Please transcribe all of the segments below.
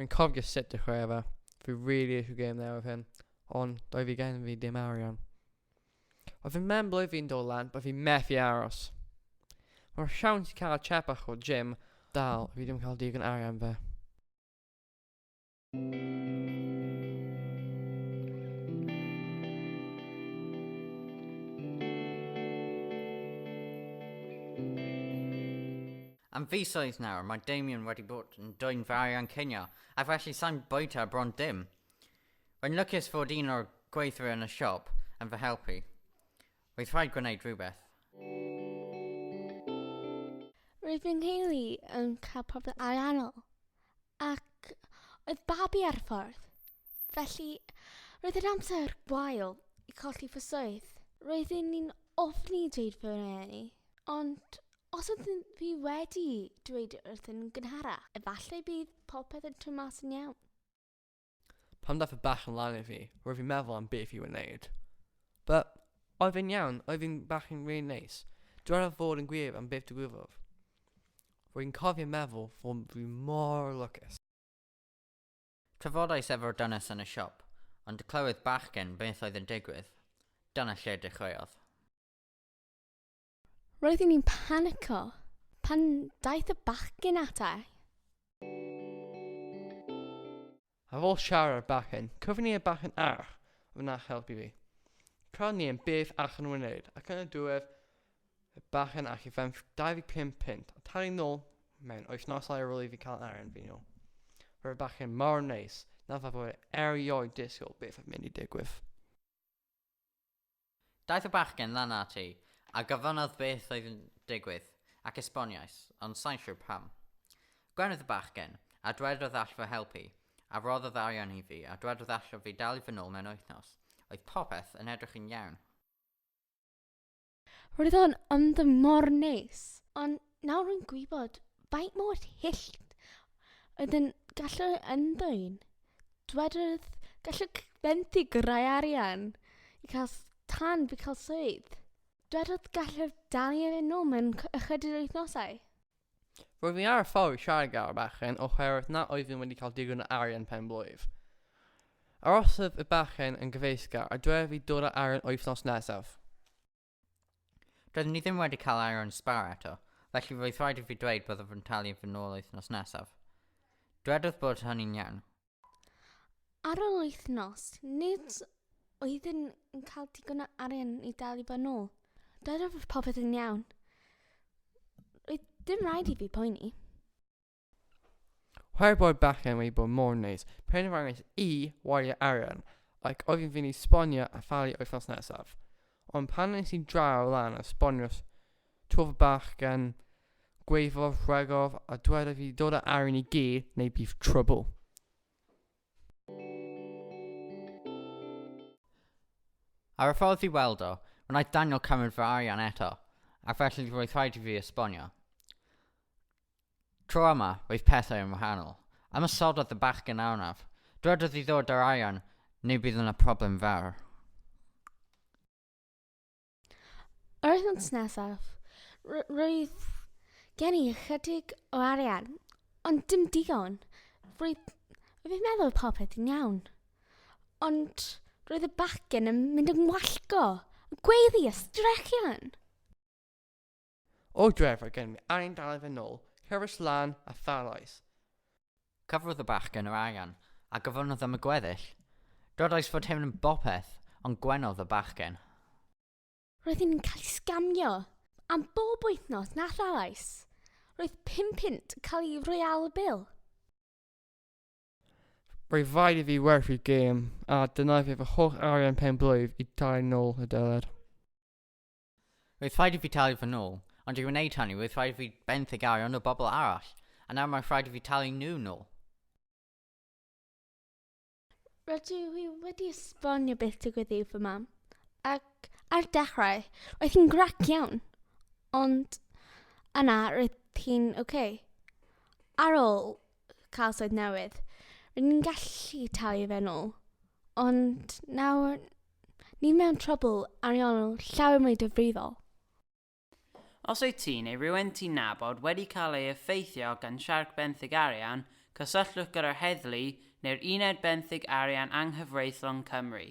Rwy'n cofio sut dechrau efo. Fi really eisiau game there with him. Ond doedd fi gen fi dim arian. Oedd fy memblwy fi'n dod lan, bod fi methu aros. Mae'r siawns i cael chepach o Jim dal, fi ddim cael digon arian fe. Am fisoedd nawr, mae Damien wedi bod yn dwy'n fawr iawn cynio, a felly sa'n bwyta bron dim. Rwy'n lwcus fod un o'r gweithwyr yn y siop yn fy helpu. Oedd rhaid gwneud rhywbeth. Roedd fy nheulu yn cael problem ariannol ac oedd babi ar y ffordd, felly roedd yn amser gwael i colli fy swydd. Roedden ni'n ofni dweud fy rhieni, ond os oedd fi wedi dweud wrthyn nhw'n gynharach, efallai bydd popeth yn troi mas yn iawn. Pan ddaeth y bach yn lan i fi, roedd fi'n meddwl am beth i wneud. But, oedd e'n iawn, oedd e'n bach yn really neis. Dwedodd fod yn gwir am beth digwyddodd. Rwy'n cofio meddwl fod fi mor lwcus. Trafodais efo'r dynes yn y siop, ond clywed bachgen beth oedd yn digwydd. Dyna lle dechreuodd. Roeddwn i'n panico pan daeth y bachgen ata i. Ar ôl siarad â'r bachgen, cofyn i'r bachgen arall a wnaeth helpu fi. Tra ni yn beth allan nhw wneud ac yn y diwedd y bachgen allu fferm 25 punt a talu nôl mewn wythnosau ar ôl i fi cael arian fi nôl. Roedd y bachgen mor neis na fod erioed disgwyl beth oedd mynd i digwydd. Daeth y bachgen lan ati, a gofynnodd beth oedd yn digwydd, ac esboniais, ond sai'n siwr pam. Gwenodd y bachgen, a dwedodd all fy helpu, a rhoddodd arian i fi, a dwedodd allaf fi dalu fy nôl mewn wythnos. Oedd popeth yn edrych yn iawn. Roedd o'n ymdyn mor neis, ond Nawr rwy'n gwybod faint mor hyll oedd yn gallu ymddwyn. Dwedodd, gallwch benthyg rai arian i cael tan fi cael swydd. Dwedodd gallwch dalu ar yn ôl mewn ychydig wythnosau. Roedd ni ar y ffordd i siarad gyda'r bachgen oherwydd na oeddwn wedi cael digon o arian pen blwydd. Arosodd y bachgen yn gyfeillgar a dwedodd fi dod â arian wythnos nesaf. Doeddwn ni ddim wedi cael air o'n sbar eto, felly roedd rhaid i fi dweud byddaf yn talu yn fy nôl wythnos nesaf. Dwedodd bod hynny'n iawn. Ar ôl wythnos, nid oeddwn yn cael digon o arian i dalu fy nôl. Doedd popeth yn iawn. Roedd dim rhaid i fi poeni. Her bod bachgen wedi bod mor neis, penderfynais i wario arian ac oedd yn fynd i sbonio a thalu wythnos nesaf. Ond pan nes i draw lan a sbonio twf y bachgen, gweiddodd, rhegodd a dwedodd fi dod â arian i gi neu bydd trwbl. Ar y ffordd i weld o, wnaeth Daniel cymryd fy arian eto, ac felly roedd rhaid i fi esbonio. Tro yma, oedd pethau yn wahanol. Ymosododd y bachgen arnaf. Dwedodd i ddod â'r arian neu bydd yna problem fawr. Yr wythnos nesaf, roedd gen i ychydig o arian, ond dim digon. Roedd, roedd i'n meddwl popeth yn iawn. Ond roedd y bachgen yn mynd yn wallgo, y gweiddi a strechian. O dref oedd gennym ni arian dal i fynd nôl, rhywbeth lân a tharoes. Cyfrodd y bachgen yr arian, a gofynnodd am y gweddill. Dodais fod hyn yn bopeth, ond gwenodd y bachgen. Roeddwn i'n cael ei sgamio am bob wythnos na tharoes. Roedd pum punt cael ei roi ar y bil. Roedd rhaid i fi werthu gêm, a dyna oedd fy holl arian pen-blwydd i dalu nôl y deler. Roedd rhaid i fi talu fy nôl, ond i wneud hynny roedd rhaid i fi benthyg arian o bobl arall, a nawr mae'n rhaid i fi talu nhw nôl. Rydw i wedi esbonio beth digwydd i fy mam, ac ar dechrau, roedd hi'n grac iawn, ond yna roedd hi'n oce. Okay. Ar ôl cael swydd newydd, rydyn ni'n gallu talu fe nôl, ond nawr Ni mewn trwbl ariannol llawer mwy difrifol. Os wyt ti neu rywun ti'n nabod wedi cael ei effeithio gan siarc benthyg arian, cysylltwch gyda'r heddlu neu'r Uned Benthyg Arian Anghyfreithlon Cymru.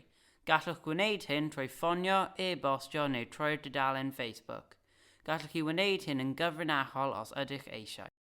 Gallwch gwneud hyn trwy ffonio, e-bostio neu troi'r dudalen Facebook. Gallwch chi wneud hyn yn gyfrinachol os ydych eisiau.